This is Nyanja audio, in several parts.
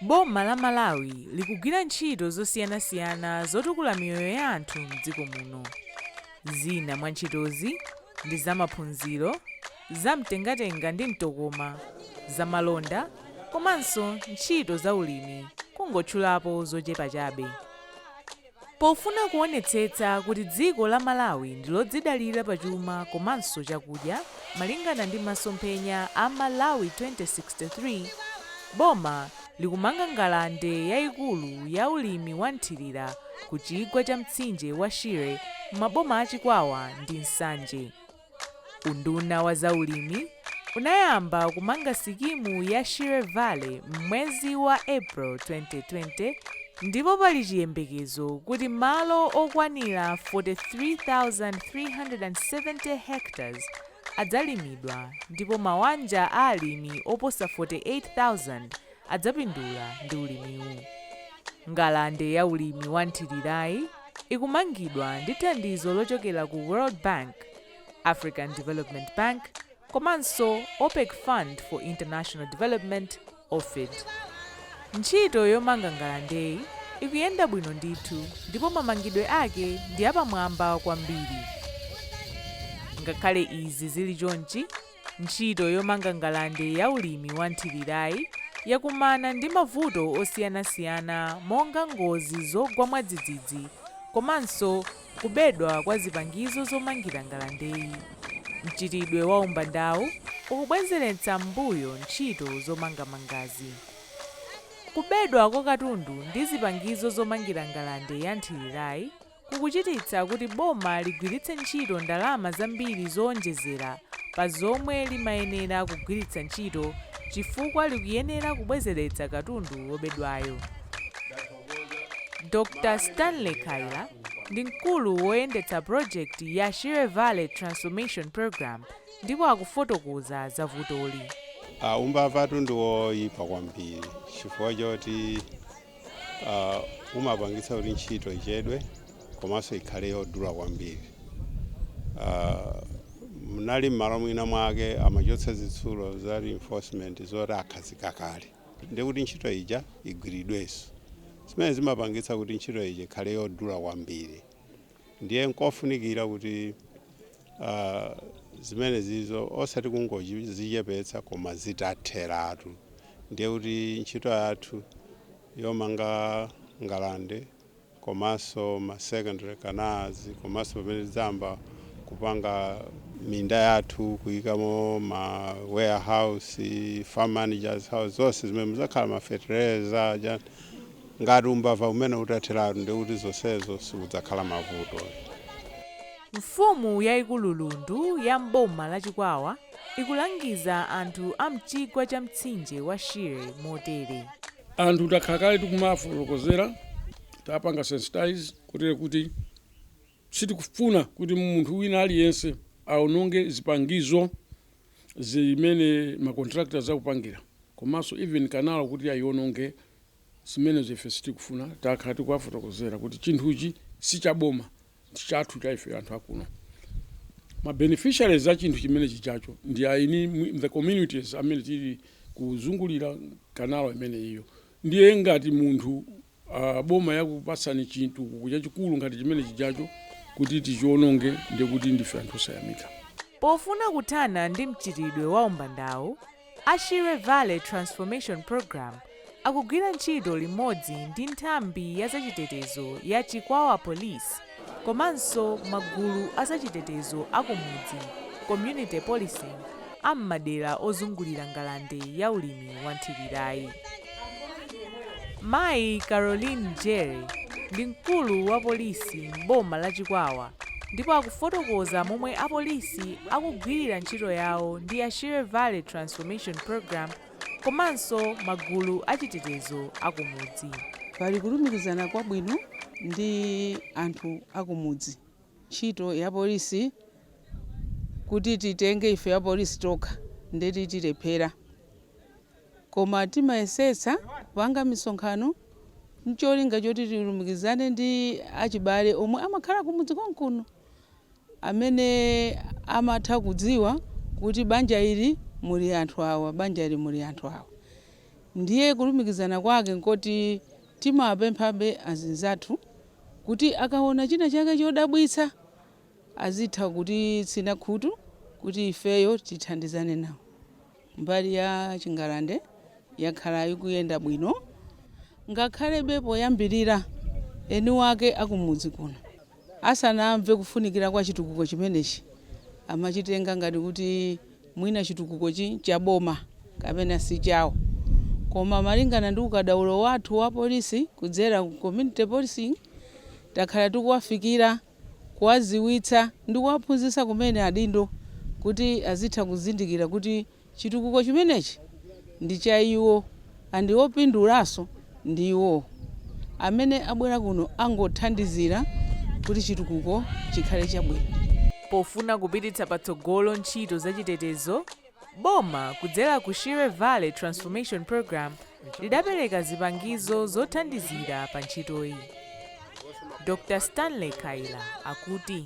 Boma la Malawi likugwira ntchito zosiyanasiyana zotukula miyoyo ya anthu m'dziko muno. Zina mwa ntchitozi ndi za maphunziro, za mtengatenga ndi mtokoma, za malonda komanso ntchito za ulimi kungotchulapo zochepa chabe. Pofuna kuonetsetsa kuti dziko la Malawi ndi lodzidalira pa chuma komanso chakudya malingana ndi masomphenya a Malawi 2063, boma likumanga ngalande yaikulu ya ulimi wa nthilira ku chigwa cha mtsinje wa Shire m'maboma a Chikwawa ndi Nsanje. Unduna wa zaulimi unayamba kumanga sikimu ya Shire Valley m'mwezi wa April 2020 ndipo pali chiyembekezo kuti malo okwanira 43,370 hectares adzalimidwa ndipo mawanja a alimi oposa 48,000 adzapindula ndi ulimiwu. Ngalande ya ulimi wa nthirirayi ikumangidwa ndi thandizo lochokera ku World Bank, African Development Bank komanso OPEC Fund for International Development, OFID. Ntchito yomanga ngalandeyi ikuyenda bwino ndithu ndipo mamangidwe ake ndi apamwamba kwambiri. Ngakhale izi zili chonchi, Ntchito yomanga ngalande ya ulimi wa nthirirayi yakumana ndi mavuto osiyanasiyana monga ngozi zogwa mwadzidzidzi komanso kubedwa kwa zipangizo zomangira ngalandeyi. Mchitidwe wa umbandawu ukubwenzeretsa m'mbuyo ntchito zomangamangazi. Kubedwa kwa katundu ndi zipangizo zomangira ngalande ya nthirirayi kukuchititsa kuti boma ligwiritse ntchito ndalama zambiri zoonjezera pa zomwe limayenera kugwiritsa ntchito chifukwa likuyenera kubwezeretsa katundu wobedwayo. Dr. Stanley Khaila ndi mkulu woyendetsa pulojekiti ya Shire Valley Transformation Programme ndipo akufotokoza za vutoli. Umbavatu ndi woipa kwambiri chifukwa choti uh, umapangitsa kuti ntchito ichedwe komanso ikhale yodula kwambiri uh, munali mmalo mwina mwake amachotsa zitsulo za reinforcement zoti akhazika kale ndi kuti ntchito ija igwiridwenso zimene zimapangitsa kuti ntchito ija ikhale yodula kwambiri ndiye nkofunikira kuti kuti zimenezizo osati kungozichepetsa koma zitatheratu ndiye kuti ntchito yathu yomanga ngalande komanso ma secondary canals komanso pamene tidzayamba kupanga minda yathu kuyikamo ma warehouse farm managers house zonse zimene mudzakhala ma fertilizer Ngati umbava umenewu utatheratu ndiye kuti zonsezo sikudzakhala mavuto. Mfumu yaikulu Lundu ya m'boma la Chikwawa ikulangiza anthu a m'chigwa cha mtsinje wa Shire motere. Anthu takhala kale tikumawafotokozera, tapanga sensitize kotero kuti sitikufuna kuti munthu wina aliyense aononge zipangizo zimene ma contractors akupangira komanso even kanalo kuti aiononge. Zimenezo ife sitikufuna. Takhala tikuwafotokozera kuti chinthuchi si cha boma, ndi chathu cha ife anthu akuno. Ma beneficiaries a chinthu chimene chijacho ndi aini mwi- the communities amene tili kuzungulira kanalo imeneyiyo. Ndiye ngati munthu ah, boma yakupatsani chinthu chachikulu ngati chimene chijacho kuti tichiononge, ndiye kuti ndife anthu osayamika. Pofuna kuthana ndi mchitidwe wa umbandawu, A Shire Valley Transformation Programme akugwira ntchito limodzi ndi nthambi ya zachitetezo ya Chikwawa Police komanso magulu a zachitetezo a kumudzi, Community Policing, a m'madera ozungulira ngalande ya ulimi wa nthirirayi. Mayi Caroline Jere ndi mkulu wa polisi m'boma la Chikwawa ndipo akufotokoza momwe apolisi akugwirira ntchito yawo ndi a Shire Valley Transformation Programme komanso magulu achitetezo akumudzi. Pali kulumikizana kwabwino ndi anthu akumudzi. Ntchito ya polisi kuti titenge ife apolisi tokha nde kuti tilephera. Koma timayesetsa kupanga misonkhano n'cholinga choti tilumikizane ndi achibale omwe amakhala kumudzi konkuno, amene amatha kudziwa kuti banja ili muli anthu awa, banja ili muli anthu awa. Ndiye kulumikizana kwake n'koti timawapemphabe azinzathu kuti akaona china chake chodabwitsa azitha kutitsina khutu kuti ifeyo tithandizane nawo. Mbali ya chingalande yakhala ikuyenda bwino ngakhalebe poyambirira eni wake a kumudzi kuno asanamve kufunikira kwa chitukuko chimenechi amachitenga ngati kuti mwina chitukukochi ncha boma kapena si chawo koma malingana ndi ukadaulo wathu wa polisi kudzera ku community policing takhala tikuwafikira kuwadziwitsa ndi kuwaphunzitsa kumene adindo kuti azitha kuzindikira kuti chitukuko chimenechi ndi cha iwo and opindulanso ndi iwo. Amene abwera kuno angothandizira kuti chitukuko chikhale chabwino. Pofuna kupititsa patsogolo ntchito za chitetezo, boma kudzera ku Shire Valley Transformation Program lidapereka zipangizo zothandizira pa ntchitoyi. Dr. Stanley Kaira akuti.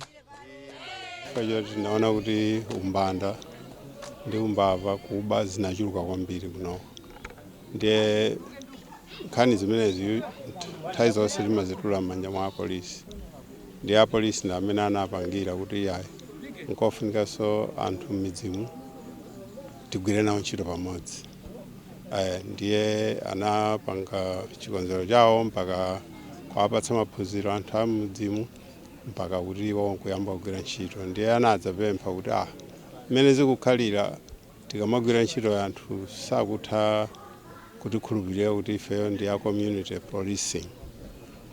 Chifukwa choti tinaona kuti umbanda ndi umbava kuba zinachuluka kwambiri kuno ndiye nkhani zimenezi nthawi zonse timazitula m'manja mwa apolisi ndiye apolisi ndi amene anapangira kuti yayi nkofunikanso anthu m'midzimu tigwire nawo ntchito pamodzi Eh, ndiye anapanga chikonzero chawo mpaka kuwapatsa maphunziro anthu a m'midzimu mpaka kuti iwo nkuyamba kugwira ntchito ndiye anadzapempha kuti ah mmene zikukhalira tikamagwira ntchitoyi anthu sakutha kutikhulupirira kuti ifeyo ndi a community policing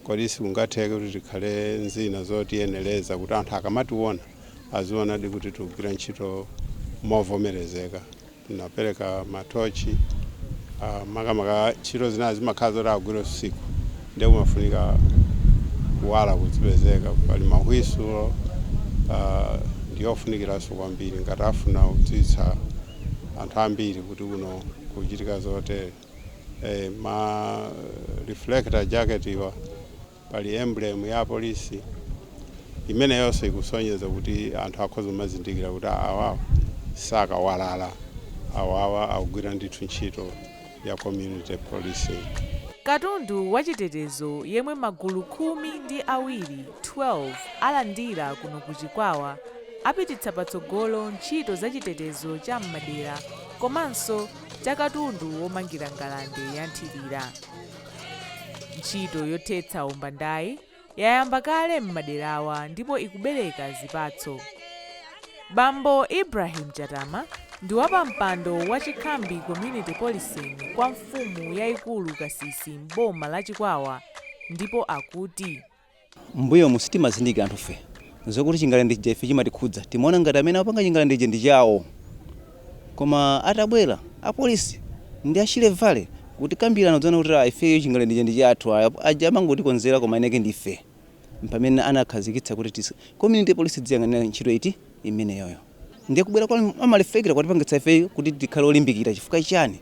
kodi sikungatheke kuti tikhale nzina zotiyenereza kuti anthu akamationa azionadi kuti tikugwira ntchito movomerezeka Tinapereka matochi ah, makamaka ntchito zina zimakhala zoti agwire usiku nde kumafunika kuwala kuzipezeka pali mahwisulo ah, ndi ofunikiranso kwambiri ngati afuna kudziwitsa anthu ambiri kuti kuno kuchitika zotere eh, ma reflector jacket iwa Pali emblem ya polisi imeneyonso ikusonyeza kuti anthu akhoza kumazindikira kuti awawa sakawalala, awawa akugwira ndithu ntchito ya community policing. Katundu wa chitetezo yemwe magulu khumi ndi awiri, 12, alandira kuno ku Chikwawa apititsa patsogolo ntchito za chitetezo cha m'madera komanso cha katundu womangira ngalande ya nthilira. Ntchito yothetsa umbandayi yayamba kale m'maderawa ndipo ikubereka zipatso. Bambo Ibrahim Chatama ndi wapampando wa Chikhambi Community Policing kwa mfumu yaikulu Kasisi m'boma la Chikwawa ndipo akuti M'mbuyomu sitimazindikira anthufe zokuti chingalande chija ife chimatikhudza. Timaona ngati amene akupanga chingalande chija ndi chawo. Koma atabwera apolisi ndi a Shire Valley kutikambirana tinadzaona kuti ah, ifeyo chingalande chija ndi chathu. Ah, Aja amangotikonzera koma eni ake ndi ife. Mpamene anakhazikitsa kuti tis- community police idziyang'anira ntchito iti imeneyoyo. ndiye kubwera kwa ma reflector kwatipangitsa ifeyo kuti tikhale olimbikira chifukwa chani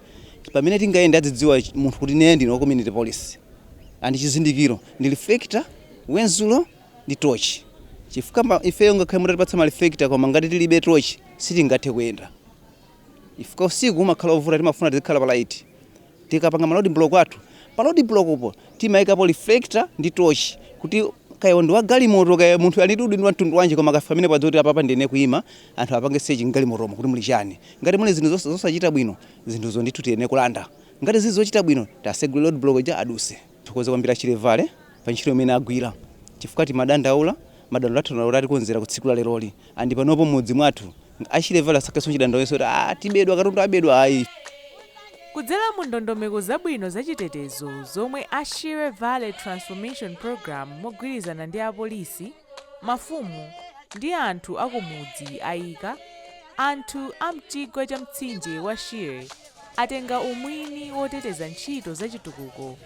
pamene tingayenda adzidziwa ch- munthu kuti ine ndine wa community police and chizindikiro ndi reflector wenzulo ndi tochi chifukwa ma- ifeyo ngakhale mutatipatsa ma reflector koma ngati tilibe tochi sitingathe kuyenda chifukwa usiku umakhala ovuta timafuna tizikhala palaiti Tikapanga ma road block athu, pa road block po timayikapo reflector ndi torch kuti kaya ndi wa galimoto kaya munthu ali ndi udindo wa mtundu wanji koma akafika pamenepo adziwe kuti apapa ndiyenera kuyima, anthu apange search m'galimotomo kuti muli chani. Ngati muli zinthu zosachita bwino, zinthuzo ndithu tiyenera kulanda. Ngati zili zochita bwino, asegule road block ija adutse. Tithokoze kwambiri a Shire Valley pa ntchito imene agwira chifukwa timadandaula, madandaulo athu atikonzera ku tsiku la leroli and panopo m'mudzi mwathu a Shire Valley asakhalenso chidandaulo kuti ah tibedwa katundu abedwa ayi. Kudzera mu ndondomeko zabwino za chitetezo zomwe a Shire Valley Transformation Programme mogwirizana ndi apolisi, mafumu ndi anthu akumudzi ayika, anthu a mchigwa cha mtsinje wa Shire atenga umwini woteteza ntchito za chitukuko